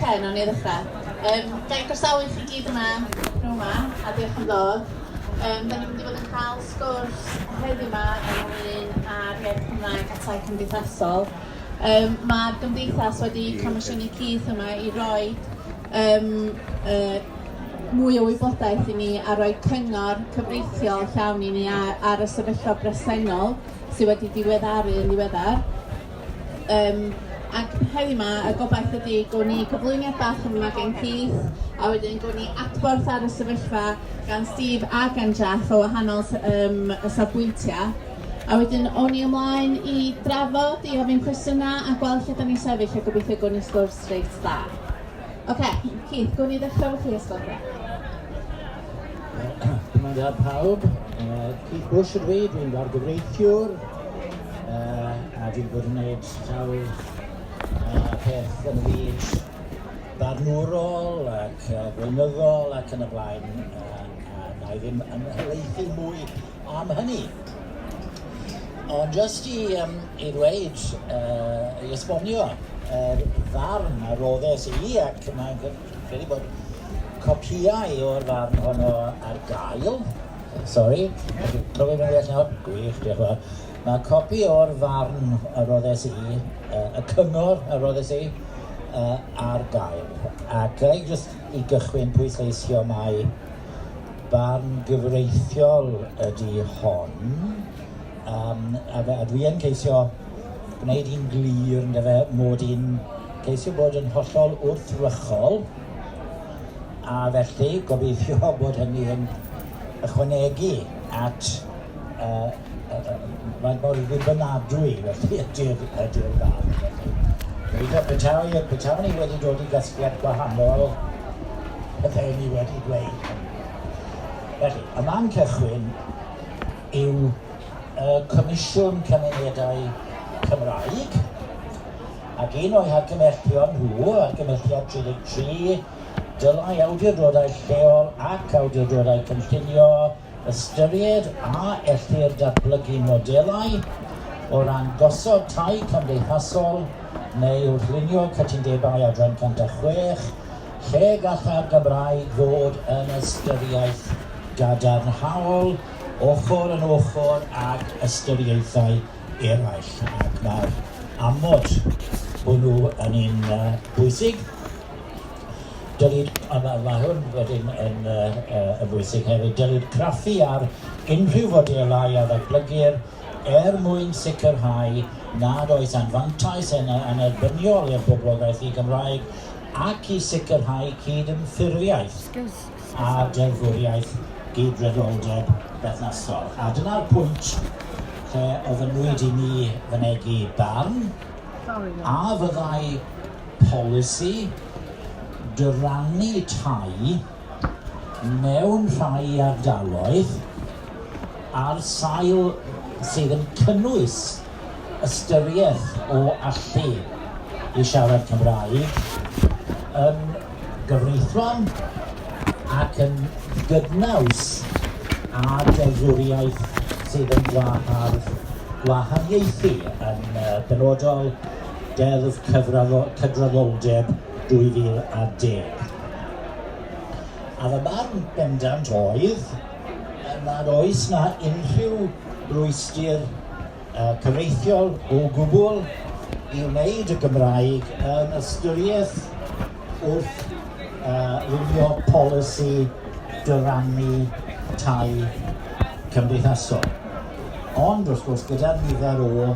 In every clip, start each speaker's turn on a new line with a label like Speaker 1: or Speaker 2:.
Speaker 1: Ok, nawn ni ddechrau. Um, ga i groesawu chi gyd yma, nhw yma, a diolch am ddod. Um, da ni'n mynd i fod yn cael sgwrs heddiw yma ynglyn â'r iaith Cymraeg a tai cymdeithasol. Um, Mae'r gymdeithas wedi comisiynu Keith yma i roi um, uh, mwy o wybodaeth i ni a roi cyngor cyfreithiol llawn i ni ar, ar y sefyllfa bresennol sydd wedi diweddaru yn ddiweddar. Um, ac heddi yma, y gobaith ydy gwn ni gyflwyniad bach yn yma gen Keith, a wedyn gwn ni adborth ar y sefyllfa gan Steve a gan Jeff o wahanol um, y safbwyntiau. A wedyn, o'n i ymlaen i drafod, i ofyn cwestiynau a gweld lle da ni sefyll a gobeithio gwn i sgwrs reit dda. Oce, okay, Keith, gwn i ddechrau fo chi os gwelwch
Speaker 2: Dyma da pawb. Uh, Keith Bush ydw i, dwi'n bargyfreithiwr, uh, a dwi'n bod yn gwneud sawl uh, peth yn y byd barnwrol ac uh, gweinyddol ac yn y blaen, uh, a na i ddim yn helaethu mwy am hynny. Ond jyst i, um, i ddweud, uh, i esbonio, yr uh, ddarn a roddes i ac mae'n Credu bod copïau o'r farn honno ar gael. Sorry, cofio fi'n well nawr? Gwych, diolch yn fawr. Mae copi o'r farn y roddes i, uh, y cyngor y roddes i, uh, ar gael. Ac gai jyst i gychwyn pwysleisio mai barn gyfreithiol ydy hon, um, a, a dwi yn ceisio gwneud hi'n glir yn dyfe mod i'n ceisio bod yn hollol wrthrychol a felly gobeithio bod hynny yn ychwanegu at uh, mae'n bod yn ddibynadwy felly ydy'r ydy'r fan felly. Gobeithio petawn ni, petawn ni wedi dod i gasgliad gwahanol bydde ni wedi dweud hynny. Felly, y man cychwyn yw y Comisiwn Cymunedau Cymraeg, ac un o'i hargymhellion nhw, argymhelliad 33, dylai awdurdodau lleol ac awdurdodau cynllunio ystyried a ellir datblygu modelau o ran gosod tai cymdeithasol neu wrth lunio cytundebau adran 106 lle gallai'r Gymraeg fod yn ystyriaeth gadarnhaol ochr yn ochr ag ystyriaethau eraill, ac mae'r amod hwnnw yn un uh, bwysig. Dylid, a mae, mae hwn wedyn yn, uh, uh, yn bwysig hefyd, dylid craffu ar unrhyw fodelau a ddatblygir er mwyn sicrhau nad oes anfantais yn anerbyniol i'r boblogaeth i Gymraeg ac i sicrhau cyd-ymffurfiaeth. a deddfwriaeth gydraddoldeb berthnasol, a dyna'r pwynt lle ofynnwyd i mi fynegi barn, a fyddai polisi dyrannu tai mewn rhai ardaloedd ar sail sydd yn cynnwys ystyriaeth o allu i siarad Cymraeg yn gyfreithlon ac yn gydnaws â deddfwriaeth sydd yn gwahardd gwahaniaethu, yn benodol Deddf Cydraddoldeb 2010. A fy marn bendant oedd, er nad oes 'na unrhyw rwystyr cyfreithiol o gwbl i wneud y Gymraeg yn ystyriaeth wrth lunio polisi dyrannu tai cymdeithasol. Ond, wrth gwrs, gyda'r nifer o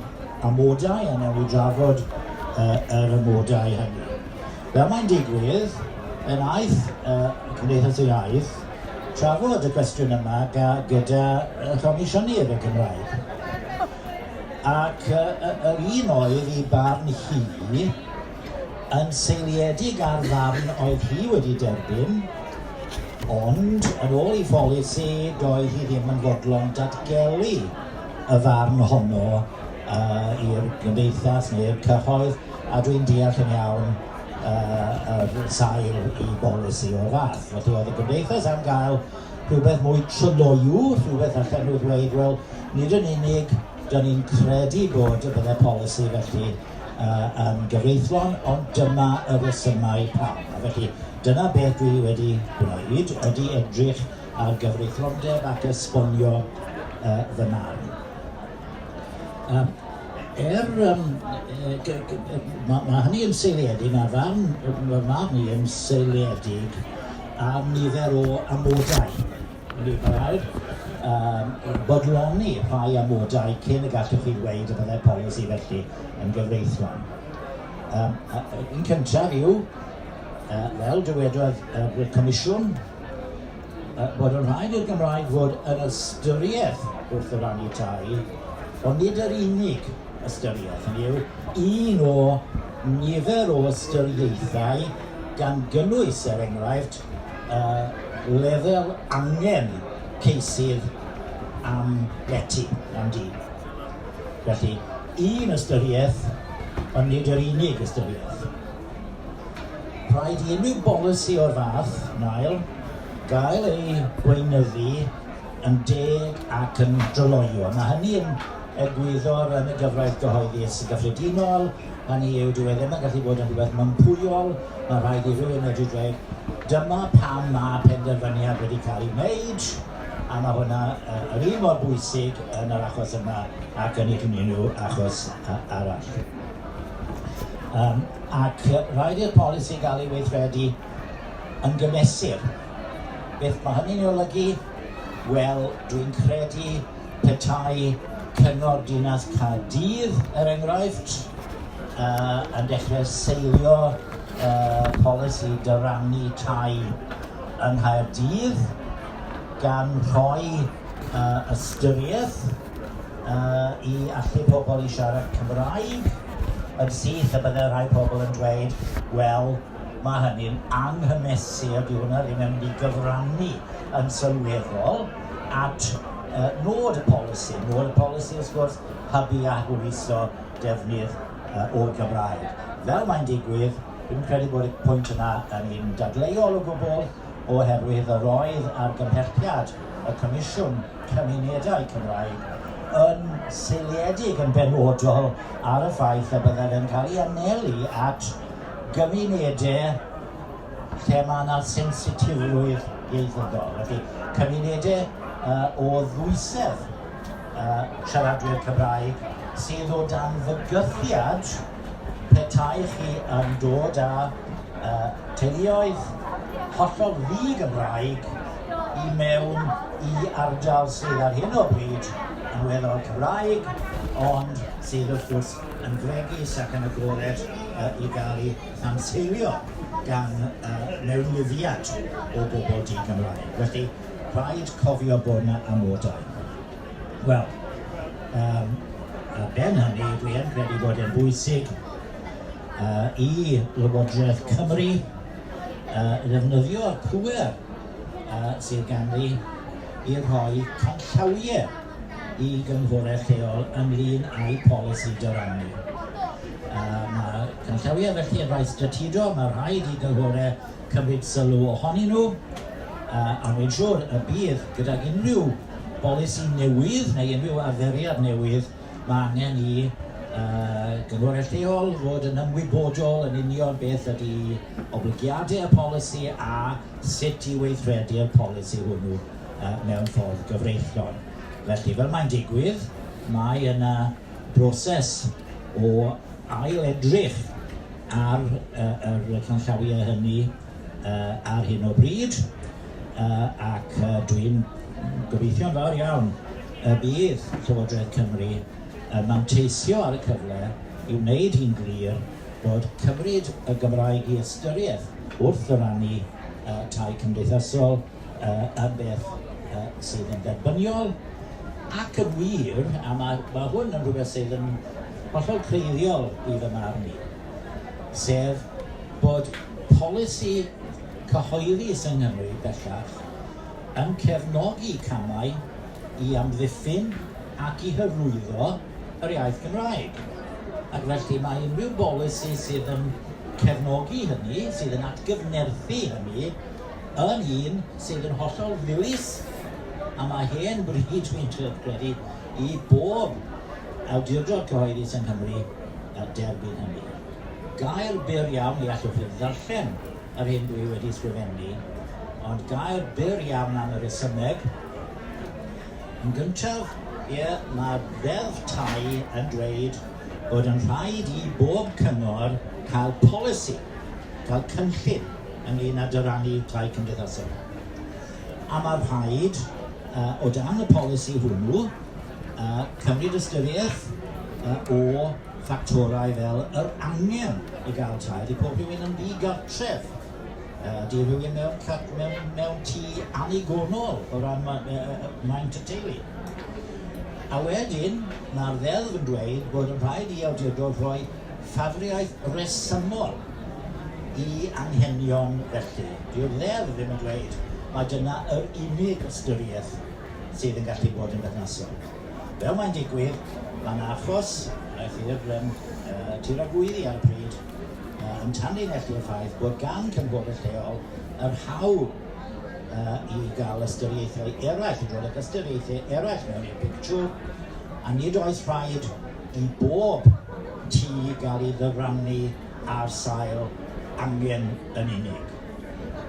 Speaker 2: amodau, a newn ni drafod yr amodau hynny. Fel mae'n digwydd, fe wnaeth y Cymdeithas Iaith trafod y cwestiwn yma ga, gyda Chomisiynydd y Gymraeg. Ac yr un oedd i barn hi yn seiliedig ar ddarn oedd hi wedi derbyn, ond yn ôl i pholisi doedd hi ddim yn fodlon datgelu y farn honno uh, i'r gymdeithas neu'r cyhoedd, a dwi'n deall yn iawn Yr sail i bolisi o'r fath. Felly oedd y Gymdeithas am gael rhywbeth mwy tryloyw, rhywbeth allan nhw ddweud, wel, nid yn unig da ni'n credu bod y bydde polisi felly uh, yn gyfreithlon, ond dyma y resymau pam. A felly, dyna beth dwi wedi gwneud, ydy edrych ar gyfreithlondeb ac esbonio uh, fy marn. Yym er yym yy gy- gy- yy ma' ma' hynny yn seiliedig ar ran yy fy marn i yn seiliedig ar nifer o amodau, mi wn i, ma' raid yym bodloni rhai amodau cyn y gallwch chi ddweud y byddai'r polisi felly yn gyfreithlon. Yym a- yy un cyntaf yw yy fel dywedodd yy y Comisiwn bod yn rhaid i'r Gymraeg fod yn ystyriaeth wrth y rannu tai, ond nid yr unig ystyriaeth, hynny yw, un o nifer o ystyriaethau gan gynnwys, er enghraifft, uh, lefel angen ceisydd am leti, am di. Felly, un ystyriaeth, ond nid yr unig ystyriaeth. Rhaid i unrhyw bolisi o'r fath, Niall, gael ei weinyddu yn deg ac yn dryloyw. Mae hynny yn egwyddor yn y gyfraith gyhoeddus gyffredinol, hynny yw, dyw e ddim yn gallu bod yn rhywbeth mympwyol, mae rhaid i rywun medru dweud, dyma pam mae penderfyniad wedi cael ei wneud, a mae hwnna yr un mor bwysig yn yr achos yma ac yn unrhyw achos arall. Yym, ac yy rhaid i'r polisi gael ei weithredu yn gymesur. Beth mae hynny'n ei olygu? Wel, dwi'n credu petai Cyngor Dinas Caerdydd, er enghraifft, yy yn dechrau seilio yy polisi dyrannu tai yng Nghaerdydd, gan rhoi yy ystyriaeth, Yy, i allu pobl i siarad Cymraeg yn syth, a bydde rhai pobl yn dweud, wel, mae hynny'n anghymesur, dyw hwnna ddim yn mynd i gyfrannu yn sylweddol at uh, nod y polisi. Nod y polisi, wrth gwrs, hybu a hwyluso defnydd uh, o'r Gymraeg. Fel mae'n digwydd, dwi'n credu bod y pwynt yna yn un dadleuol o gwbl, oherwydd yr oedd argymhelliad y Comisiwn cymunedau Cymraeg, yn seiliedig yn benodol ar y ffaith y byddaf yn cael ei anelu at gymunedau lle mae yna sensitifrwydd ieithyddol, felly cymunedau uh, o ddwysedd uh, siaradwyr Cymraeg sydd o dan fygythiad petai chi yn dod â uh, teuluoedd hollol ddi-Gymraeg i mewn i ardal sydd ar hyn o bryd yn weddol Cymraeg, ond sydd wrth gwrs yn fregus ac yn agored i gael ei hanseilio gan mewnlifiad o bobl di-Gymraeg. Felly, rhaid cofio bod 'na amodau. Wel, um, ar ben hynny, dwi yn credu bod e'n bwysig uh, i Lywodraeth Cymru uh, ddefnyddio'r pwer uh, sydd ganddi i rhoi canllawiau i gynghorau lleol ynglyn â'i polisi dyrannu. Uh, mae canllawiau felly yn rhai stratedo, mae rhaid i gynghorau cymryd sylw ohonyn nhw, a rwy'n siŵr y bydd, gydag unrhyw bolisi newydd neu unrhyw arferiad newydd, mae angen i gynghorau lleol fod yn ymwybodol yn union beth ydy oblygiadau y polisi a sut i weithredu'r polisi hwnnw mewn ffordd gyfreithlon. Felly, fel mae'n digwydd, mae yna broses o ail-edrych ar yr canllawiau hynny ar hyn o bryd ac dwi'n gobeithio'n fawr iawn y bydd Llywodraeth Cymru yn manteisio ar y cyfle i wneud hi'n glir bod cymryd y Gymraeg i ystyriaeth wrth ddyrannu tai cymdeithasol yn beth sydd yn dderbyniol ac yn wir, a mae, mae hwn yn rhywbeth sydd yn hollol creiddiol i fy marn i, sef bod polisi cyhoeddus yng Nghymru bellach yn cefnogi camau i amddiffyn ac i hyrwyddo yr iaith Gymraeg, ac felly mae unrhyw bolisi sydd yn cefnogi hynny, sydd yn atgyfnerthu hynny, yn un sydd yn hollol ddilys a mae hen bryd, dwi'n trio credu, i bob awdurdod cyhoeddus yng Nghymru derbyn hynny. Gair byr iawn, ni allwch ddim ddarllen yr hyn dwi wedi ysgrifennu, ond gair byr iawn am y resymeg. Yn gyntaf, ie, mae Ddeddf Tai yn dweud bod yn rhaid i bob cyngor cael polisi, cael cynllun ynglŷn â dyrannu tai cymdeithasol, a mae rhaid, o dan y polisi hwnnw, cymryd ystyriaeth o ffactorau fel yr angen i gael tai. Ydy pob rhywun yn ddi-gartref? Ydy rhywun mewn, mewn, mewn tŷ annigonol o ran ma, maint y teulu? A wedyn, mae'r ddeddf yn dweud bod yn rhaid i awdurdod rhoi ffafriaeth resymol i anghenion felly. Dyw'r Ddeddf ddim yn dweud mai dyna yr unig ystyriaeth sydd yn gallu bod yn berthnasol. Fel mae'n digwydd, mae yna achos, eraill i'r um, uh, tir a gwydd i ar y pryd, uh, yn tannu felly y ffaith bod gan cynghorau lleol yr hawl uh, i gael ystyriaethau eraill, i ddod ag ystyriaethau eraill mewn i'r pictiwr, a nid oes rhaid i bob tŷ gael ei ddyrannu ar sail angen yn unig.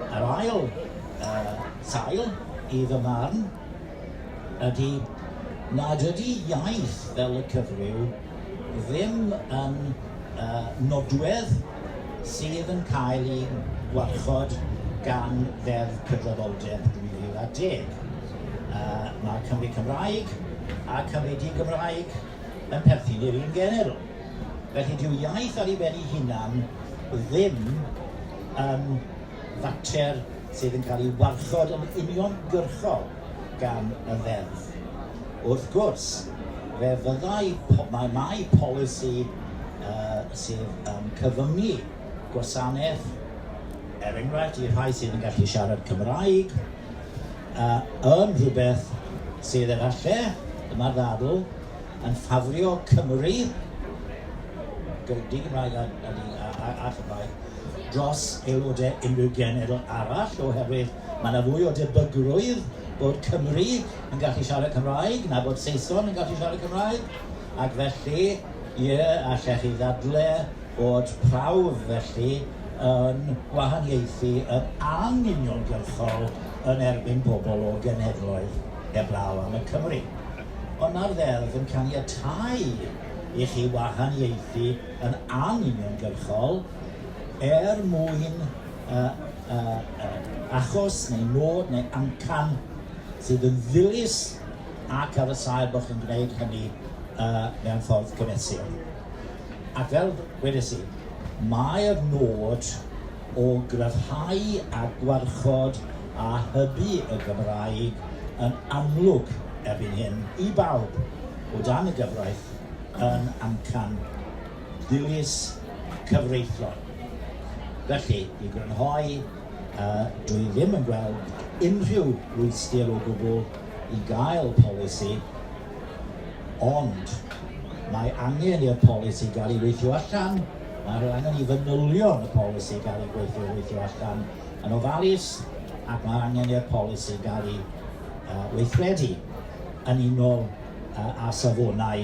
Speaker 2: Yr ail uh, sail, i fy marn, ydy nad ydy iaith fel y cyfryw ddim yn uh, nodwedd sydd yn cael ei warchod gan Ddeddf Cydraddoldeb 2010. Uh, mae Cymru Cymraeg a Cymru Di-Gymraeg yn perthyn i'r un genedl. Felly dyw iaith ar ei ben ei hunan ddim yn fater sydd yn cael ei warchod yn uniongyrchol gan y Ddeddf. Wrth gwrs, fe fyddai, mae, mae polisi uh, sydd yn cyfyngu gwasanaeth, er enghraifft, i rhai sydd yn gallu siarad Cymraeg, uh, yn rhywbeth sydd efallai, dyma'r ddadl, yn ffafrio Cymru, di-Gymraeg a, a, a, a Chymraeg, dros aelodau unrhyw genedl arall oherwydd Mae 'na fwy o debygrwydd bod Cymry yn gallu siarad Cymraeg na bod Saeson yn gallu siarad Cymraeg, ac felly, ie, allech chi ddadle bod prawf felly yn gwahaniaethu yn anuniongyrchol yn erbyn pobl o genhedloedd heblaw am y Cymry. Ond mae'r ddeddf yn caniatáu i chi wahaniaethu yn anuniongyrchol er mwyn yy achos neu nod neu amcan sydd yn ddilys ac ar y sail bod chi'n gwneud hynny mewn ffordd cymesur. Ac fel wedes i, mae'r nod o gryfhau a gwarchod a hybu y Gymraeg yn amlwg erbyn hyn i bawb o dan y gyfraith yn amcan ddilys cyfreithlon. Felly, i grynhoi, dwi ddim yn gweld unrhyw rwystyr o gwbl i gael polisi, ond mae angen i'r polisi gael ei weithio allan, mae angen i fanylion y polisi gael ei gweithio weithio allan yn ofalus, ac mae angen i'r polisi gael ei weithredu yn unol â safonau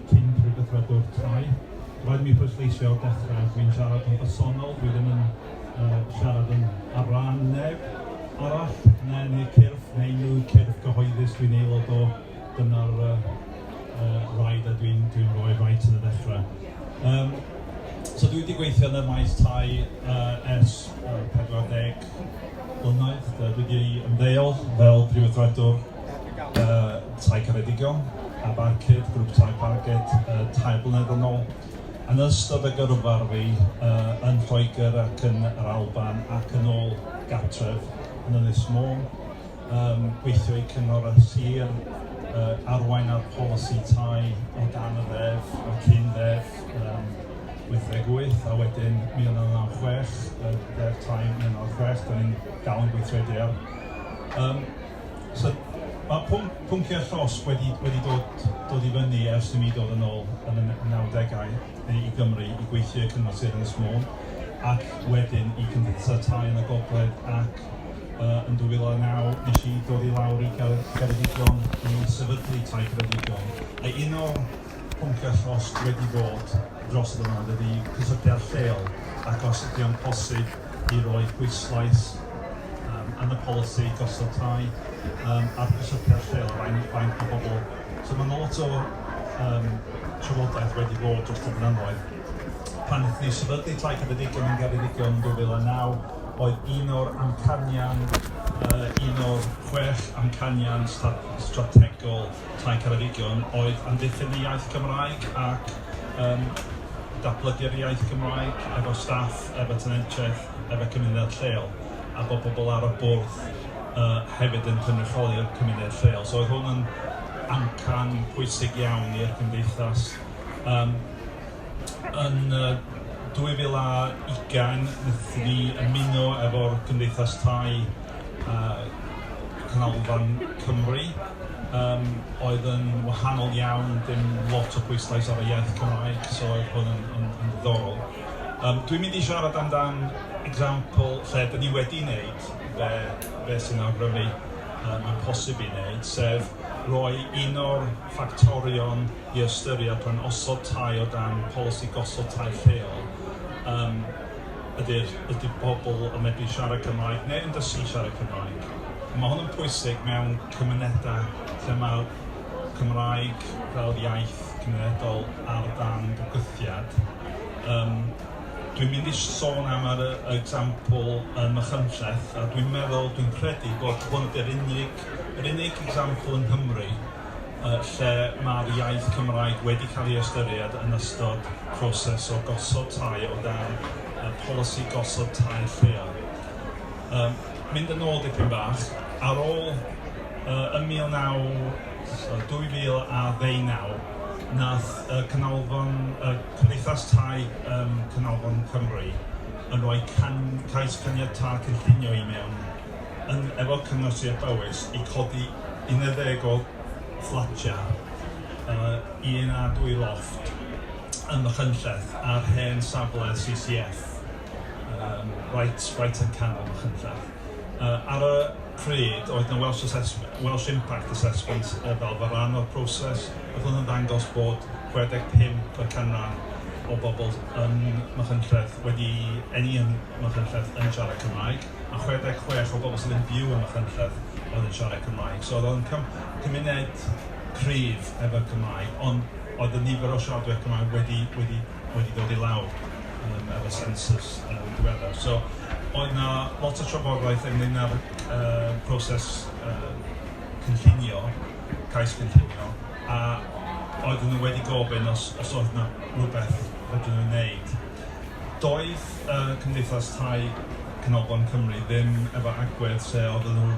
Speaker 3: cyn pregethwradwr tai. Rhaid mi phwysleisio o'r dechrau, dwi'n siarad yn bersonol, dwi ddim yn uh, siarad yn ar ran neb arall, neu yn eu cyrff, neu unrhyw cyrff gyhoeddus dwi'n aelod o, dyna'r uh, uh, rhaid a dwi'n dwi rhoi rhaid yn y dechrau. Um, so dwi wedi gweithio yn y maes tai uh, ers uh, 40 blynedd, dwi wedi ymddeol fel prifyddiadwr y tai caredigion, a Barcud, grŵp tai Parged, yy tair blynedd yn ôl. Yn ystod y gyrfa fi yy yn Lloegr ac yn yr Alban ac yn ôl gartref yn Ynys Môn, yym gweithio i Cyngor y Sir, yy arwain ar polisi tai o dan y ddeddf, y cyn ddeddf yym 88 a wedyn 1996, y ddeddf tai 1996, 'dan ni'n dal yn gweithredu ar. Yym. So, mae pwnc, pwnciau llosg wedi, wedi dod, dod i fyny ers i mi dod yn ôl yn y 90au neu i Gymru i gweithio i'r Cyngor Sir Ynys Môn ac wedyn i Cymdeithasau Tai yn y Gogledd ac uh, yn 2009 nes i dod i lawr i Geredigion i sefydlu Tai Ceredigion a un o'r pwnciau llosg wedi bod dros y blynyddoedd ydy cysylltiad lleol ac os ydy o'n posib i roi pwyslais yym yn y polisi gosod tai yym ar gysylltiad lleol a faint faint o bobl. So ma' 'na lot o yym trafodaeth wedi bod dros y blynyddoedd. Pan naethon ni sefydlu Tai Ceredigion yn Geredigion 2009 oedd un o'r amcanion yy un o'r chwech amcanion sta- strategol Tai Ceredigion oedd amddiffyn y iaith Gymraeg ac yn datblygu'r iaith Gymraeg efo staff, efo tenantiaeth, efo cymunedau lleol, a bod pobl ar y bwrdd yy hefyd yn cynrychioli'r cymuned lleol. So oedd hwn yn amcan pwysig iawn i'r gymdeithas. Um, yn uh, 2020 wnaethon ni ymuno efo'r Gymdeithas Tai a Canolfan Cymru yym oedd yn wahanol iawn, dim lot o bwyslais ar y iaith Cymraeg, so oedd hwn yn yn yn ddiddorol. Yym dwi'n mynd i siarad amdan example lle 'dyn ni wedi wneud be be sy'n awgrymu yy mae'n posib i wneud, sef roi un o'r ffactorion i ystyried pan osod tai o dan polisi gosod tai lleol yym ydy'r ydy pobl yn medru siarad Cymraeg neu yn dysgu siarad Cymraeg. A mae hwn yn pwysig mewn cymunedau lle mae'r Cymraeg fel iaith cymunedol ar dan bygythiad. Yym, dwi'n mynd i sôn am yr example yn Machynlleth a dwi'n meddwl, dwi'n credu bod hwn ydy'r unig, yr unig example yng Nghymru lle mae'r iaith Cymraeg wedi cael ei ystyried yn ystod proses o gosod tai o dan y polisi gosod tai lleol. Um, mynd yn ôl dipyn bach, ar ôl uh, ym 19, 2019, nath uh, Canolfan, uh, Cymdeithas Tai um, Canolfan Cymru yn rhoi can, cais caniatâd cynllunio i mewn yn efo Cyngor Sir Powys i codi unedeg o fflatiau yy un a dwy lofft ym Machynlleth ar hen safle CCF yym reit reit yn canol Machynlleth. Yy ar y pryd oedd 'na Welsh Assessme- Welsh Impact Assessment yy fel fel rhan o'r proses ac oedd o'n dangos bod 65 y canran o bobl yn Machynlleth wedi eni yn Machynlleth yn siarad Cymraeg. a 66 o bobl sydd yn byw ym Machynlleth oedd yn siarad Cymraeg. So oedd o'n cym cymuned cryf efo'r Cymraeg, ond oedd y nifer o siaradwyr Cymraeg wedi, wedi, wedi dod i lawr um, efo census um, diweddar. So oedd na lot o trafodaeth ynglyn â'r uh, proses uh, cynllunio, cais cynllunio, a oedden nhw wedi gofyn os, os oedd na rhywbeth fedrwn nhw'n wneud Doedd y Cymdeithas Tai Canolfan Cymru ddim efo agwedd lle oedden nhw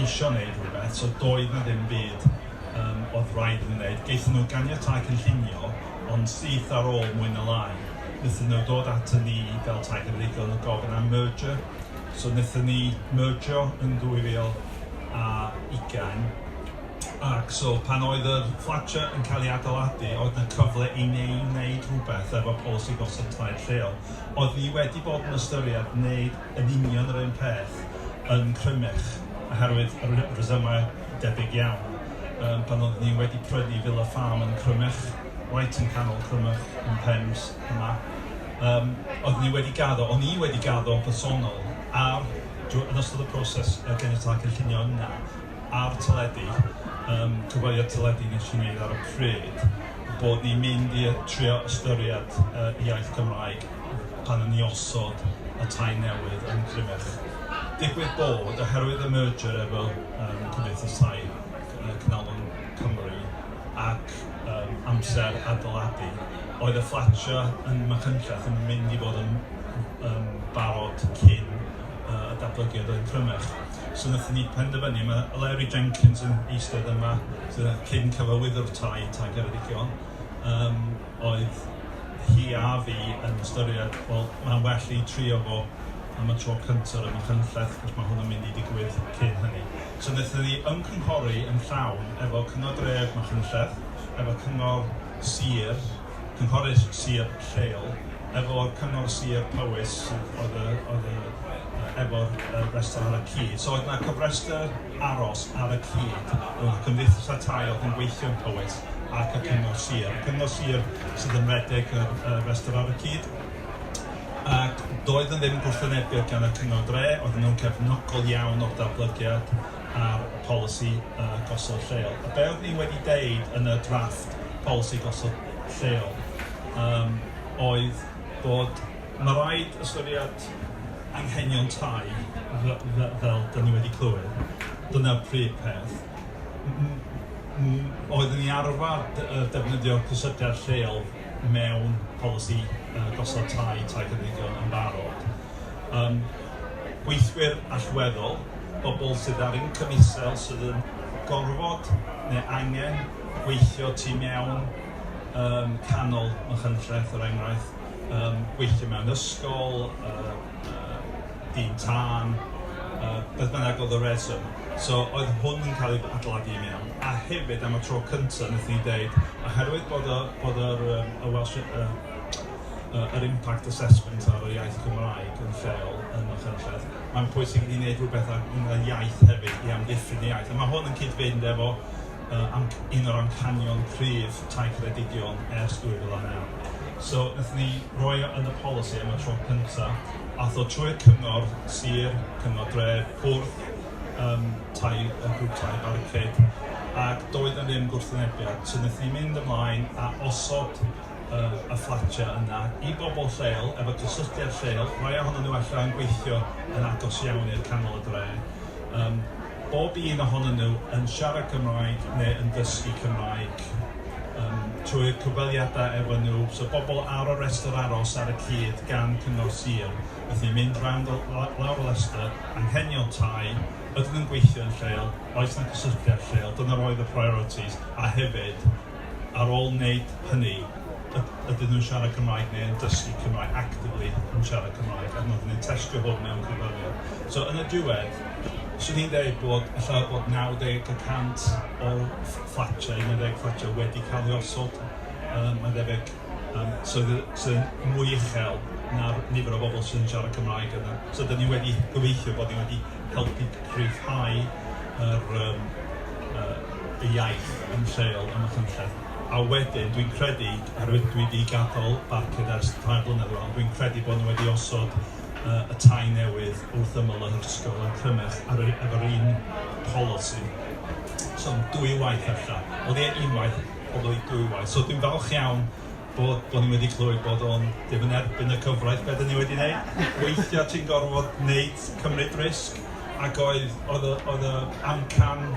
Speaker 3: isio wneud rhywbeth, so doedd 'na ddim byd yym oedd raid iddyn nhw wneud. Gaethon nhw ganiatáu cynllunio, ond syth ar ôl mwy na lai, wnaethon nhw dod aton ni fel Tai Cymreigaidd yn gofyn am merger, so wnaethon ni mergio yn 2020. Ac so, pan oedd yr fflatiau yn cael eu adeiladu, oedd 'na cyfle i ni wneud rhywbeth efo polisi gosod tai lleol. Oeddwn i wedi bod yn ystyried gwneud yn union yr un peth yn Crymych, oherwydd rhesymau debyg iawn, yym pan oeddwn i wedi prynu Villa Farm yn Crymych, reit yng nghanol Crymych, yn Pembs, yma. Yym oeddwn i wedi gaddo, o'n i wedi gaddo yn bersonol, ar, drwy, yn ystod y proses ganiatau cynllunio yna, a'r teledu, yym cyfweliad teledu wnes i wneud ar y pryd, bod ni'n mynd i trio ystyried y iaith Gymraeg pan o'n ni osod y tai newydd yn Crymych. Digwydd bod, oherwydd y merger efo yym Cymdeithas Tai Cynalon Cymru ac yym amser adeiladu, oedd y fflatiau yn Machynlleth yn mynd i fod yn yym barod cyn yy y datblygiad oedd yn crymach. So wnaethon ni penderfynu, mae Larry Jenkins yn eistedd yma, sydd yn cyn cyfarwyddwr tai Tai Ceredigion, um, oedd hi a fi yn ystyried, wel, mae'n well i trio fo am y tro cyntaf yn Machynlleth, cos mae hwn yn mynd i digwydd cyn hynny. So wnaethon ni ymgynghori yn llawn efo Cyngor Dref Machynlleth, efo Cyngor Sir, Cynghorydd Sir lleol efo Cyngor Sir Powys sydd oedd y oedd y yy efo'r yy rhestr ar y cyd. So oedd 'na cofrestr aros ar y cyd rhwng y cymdeithasau tai oedd yn gweithio yn Powys ac y Cyngor Sir. Y Cyngor Sir sydd yn redeg yr yy rhestr ar y cyd. Ac doedd yn ddim gwrthwynebiad gan y Cyngor Dre, oedd nhw'n cefnogol iawn o'r datblygiad. ar y polisi yy gosod lleol. A be' oeddwn ni wedi deud yn y drafft polisi gosod lleol yym oedd bod ma' raid ystyried anghenion tai fy- fy- fel 'dan ni wedi clywed, dyna'r prif peth. M- m- m- oeddwn ni arfar dy- yy defnyddio cysylltiad lleol mewn polisi yy gosod tai tai cymdeithiol yn barod. yym gweithwyr allweddol, bobl sydd ar incwm isel sydd yn gorfod neu angen gweithio tu mewn yym canol Machynlleth er enghraifft, yym gweithio mewn ysgol, yy yy dyn tân, yy beth bynnag oedd y reswm. So oedd hwn yn cael ei adeiladu i mewn a hefyd am y tro cynta' wnaethon ni ddeud oherwydd bod y bod yr yym y Welsh yy yr impact assessment ar yr iaith Gymraeg yn lleol yn Machynlleth. Mae'n pwysig i ni wneud rhywbeth ar y iaith hefyd i amddiffyn y iaith. A mae hwn yn cyd-fynd efo uh, am, un o'r amcanion cryf tai credigion ers 2009. So, wnaeth ni roi o yn y polisi am y tro cyntaf, a tho trwy'r cyngor sir, cyngor dre, bwrdd um, tai, y grŵp tai baricade, ac doedd yn ddim gwrthwynebiad. So, wnaeth ni mynd ymlaen a osod yy y fflatiau yna i bobl lleol, efo gysylltiad lleol, rhai ohonyn nhw ella yn gweithio yn agos iawn i'r canol y dre, um, bob un ohonyn nhw yn siarad Cymraeg neu yn dysgu Cymraeg um, trwy'r cyfweliadau efo nhw, so bobl ar y restr aros ar y cyd gan Cyngor Sir, felly mynd rownd lawr y restr, anghenion tai, ydyn nhw'n gweithio yn lleol, oes na gysylltiad lleol, dyna oedd y priorities, a hefyd ar ôl wneud hynny, yd- ydyn nhw'n siarad Cymraeg neu yn dysgu Cymraeg, actively yn siarad Cymraeg, ac oedden ni'n testio hwn mewn cyfweliad. So yn y diwedd, 'swn i'n deud bod ella bod 90 y cant o'r ff- fflatiau, un ar ddeg fflatiau wedi cael ei osod, yy mae'n debyg. Yym so fydd sydd yn mwy uchel na'r nifer o bobl sy'n siarad Cymraeg yna. So dan ni wedi gobeithio bod ni wedi helpu rhyddhau yr yym yy y iaith yn lleol ym Machynlleth. A wedyn dwi'n credu, oherwydd dwi 'di gadael Barcud ers tair blynedd rŵan, dwi'n credu bod nhw wedi osod yy y tai newydd wrth ymyl yr ysgol yn Crymych ar y efo'r un polisi. So dwywaith ella. Wel ie unwaith. pobl i dwywaith. So dwi'n falch iawn bod, bod ni wedi clywed bod o'n ddim yn erbyn y cyfraith beth ni wedi wneud. Weithiau ti'n gorfod wneud cymryd risg ac oedd, oedd, oedd y amcan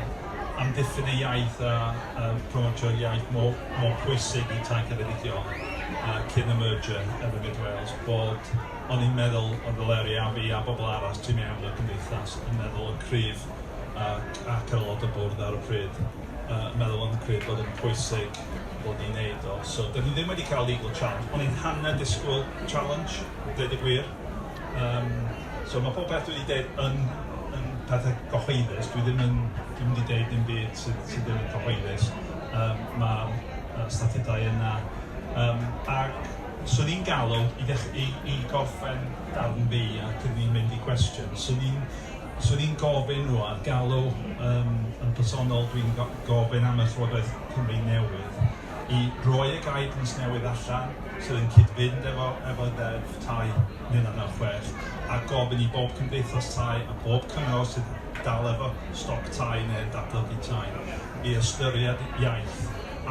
Speaker 3: am diffyn y iaith a, a promotio'r iaith mor, mor pwysig i tai ceredigion uh, cyn y merger yn y Mid Wales bod o'n i'n meddwl oedd y leri a fi a bobl arall ti'n mewn y cymdeithas yn meddwl y cryf ac, ac yr aelod y bwrdd ar y pryd. yy meddwl yn credu bod yn pwysig bod ni'n neud o. So 'dan ni ddim wedi ca'l legal challenge. O'n i'n hanner disgwyl challenge, deud y gwir. Yym so ma' pob peth dwi 'di deud yn yn pethe cyhoeddus, dwi ddim yn dwi'm 'di deud dim byd sydd sydd ddim yn cyhoeddus, yym ma'r yy statudau yna yym ac 'swn i'n galw i ddech- i i gorffen darn fi a cyn i ni mynd i cwestiwn 'swn i'n 'swn i'n gofyn nhw ar galw yym yn personol, dwi'n go- gofyn am y Llywodraeth Cymru newydd i roi y guidance newydd allan sydd yn cyd-fynd efo efo Ddeddf Tai 1996 a gofyn i bob cymdeithas tai a bob cyngor sydd dal efo stoc tai neu'n datblygu tai i ystyried iaith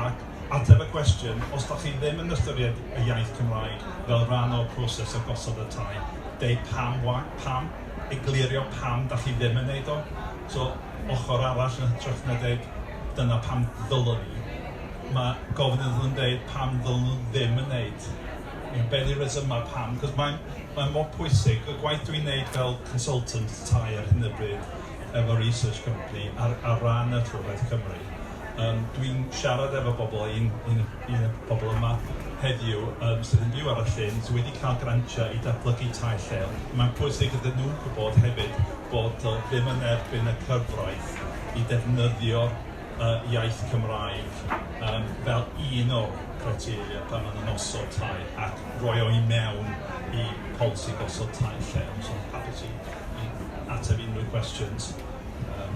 Speaker 3: ac Ateb y cwestiwn, os dach chi ddim yn ystyried y iaith Cymraeg fel rhan o'r proses o gosod y tai, deu pam wa- pam, eglurio pam dach chi ddim yn neud o. So, ochr arall yn hytrach na deud dyna pam ddylwn ni, ma' gofyn iddyn nhw deud pam ddylwn nhw ddim yn neud. You know, be di resyma pam? Cos mae'n mae'n mor pwysig, y gwaith dwi'n neud fel consultant tai ar hyn o bryd efo research company ar ar ran y Llywodraeth Cymru, Yym, dwi'n siarad efo bobl, un un un o'r pobl yma heddiw yym sydd yn byw ar y llyn, sy wedi cael grantiau i datblygu tai lleol. Mae'n pwysig iddyn nhw gwybod hefyd bod o ddim yn erbyn y cyfraith i ddefnyddio yy iaith Cymraeg yym fel un o'r criteria pan maen nhw'n osod tai ac roi o i mewn i polisi gosod tai lleol. So hapus i i ateb unrhyw cwestiwn yym.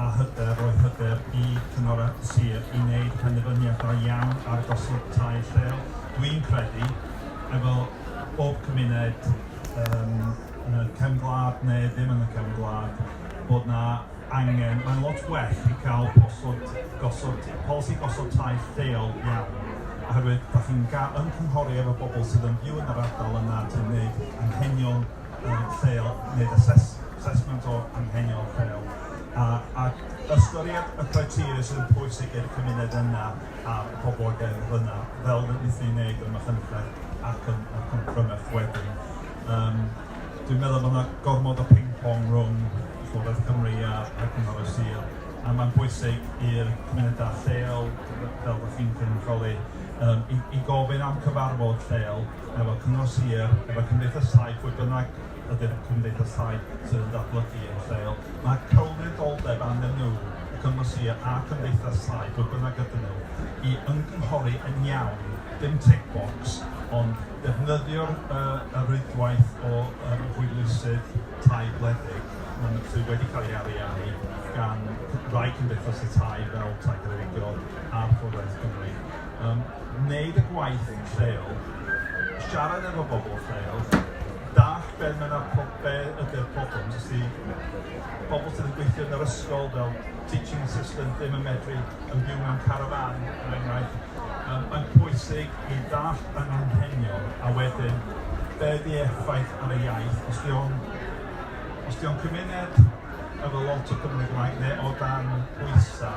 Speaker 3: a hyder roi hyder i Cyngor y Sir i wneud penderfyniad da iawn ar gosod tai lleol. Dwi'n credu, efo bob cymuned yym yn y cefn gwlad neu ddim yn y cefn gwlad, bod 'na angen, mae'n lot well i cael posod, gosod, polisi gosod tai lleol iawn, oherwydd dach chi'n ga- ymgynghori efo bobl sydd yn byw yn yr ardal yna, ti'n wneud anghenion, yn lleol, wneud asesment o anghenion lleol, ac ystyried y criteria sydd yn pwysig i'r cymuned yna a'r poblogaeth yna, fel rydyn ni'n gwneud yn Machynlleth ac yn Crymych wedyn. Yym dwi'n meddwl bod yna gormod o ping-pong rhwng Llywodraeth Cymru a Cyngor y Sir, a mae'n bwysig i'r cymunedau lleol, fel dach chi'n cynrychioli, i gofyn am cyfarfod lleol. efo Cyngor Sir, efo Cymdeithas Tai, pwy bynnag ydy'r Cymdeithas Tai sydd yn datblygu yn lleol. Mae cylwyddoldeb arnyn nhw, y Cyngor Sir a Chymdeithas Tai, pwy bynnag ydyn nhw, i ymgynghori yn iawn, dim tick box, ond defnyddio'r uh, y rwydwaith o um, hwylusydd tai gwledig um, sydd wedi cael ei ariannu gan rai cymdeithas y tai fel Tai Greigio a'r Llywodraeth Cymru. Um, Wneud y gwaith yn lleol, siarad efo bobl lleol, dallt be' ma' 'na po- be' ydi'r problem, os ydi pobl sydd yn gweithio yn yr ysgol fel teaching assistant ddim yn medru yn byw mewn carafán er enghraifft, yym mae'n pwysig i ddallt yr anghenion a wedyn be' ydi effaith ar y iaith, os 'di o'n os 'di o'n cymuned efo lot o Cymry Gymraeg neu o dan bwysa',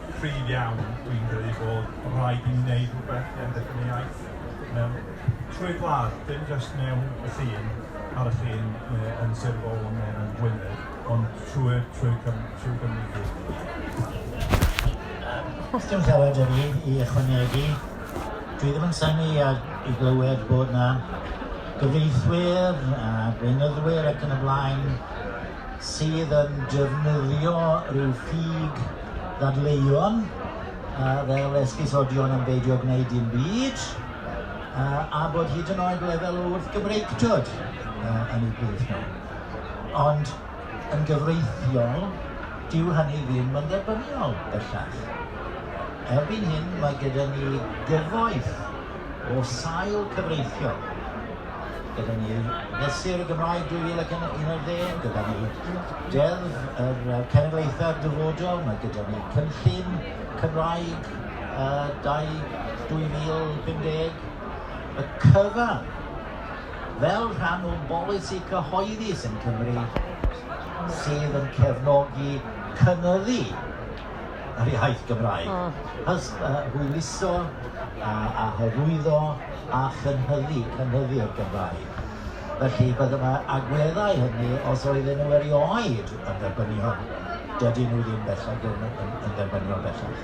Speaker 3: cryf iawn, dwi'n credu bod rhaid i ni wneud rhywbeth i amddiffyn y iaith mewn trwy'r gwlad, dim jyst mewn y ffin, ar y ffin, neu yn Sir Fôn neu yn Gwynedd, ond trwy'r trwy trwy Gymru i gyd.
Speaker 2: Os dim llawer da fi i ychwanegu, dwi ddim yn synnu i glywed bod na gyfreithwyr a gweinyddwyr ac yn y blaen sydd yn defnyddio rhyw ffug ddadleuon fel esgusodion yn beidio gwneud dim byd, a bod hyd yn oed lefel o wrthgymreictod yn eu plith nhw. Ond yn gyfreithiol, dyw hynny ddim yn dderbyniol bellach. Erbyn hyn mae gyda ni gyfoeth o sail cyfreithiol gyda ni yw Mesur y Gymraeg 2011, gyda ni Deddf yr Cenedlaethau'r Dyfodol, mae gyda ni Cynllun Cymraeg uh, 2050, y cyfan fel rhan o'n bolisi cyhoeddus yn Cymru sydd yn cefnogi cynyddu Yr iaith Gymraeg. Hys- hwyluso a a hyrwyddo a chynhyddu, cynhyddu'r Gymraeg. Felly, beth yma agweddau hynny, os oedden nhw erioed yn dderbyniol, dydyn nhw ddim bellach ddim yn yn dderbyniol bellach.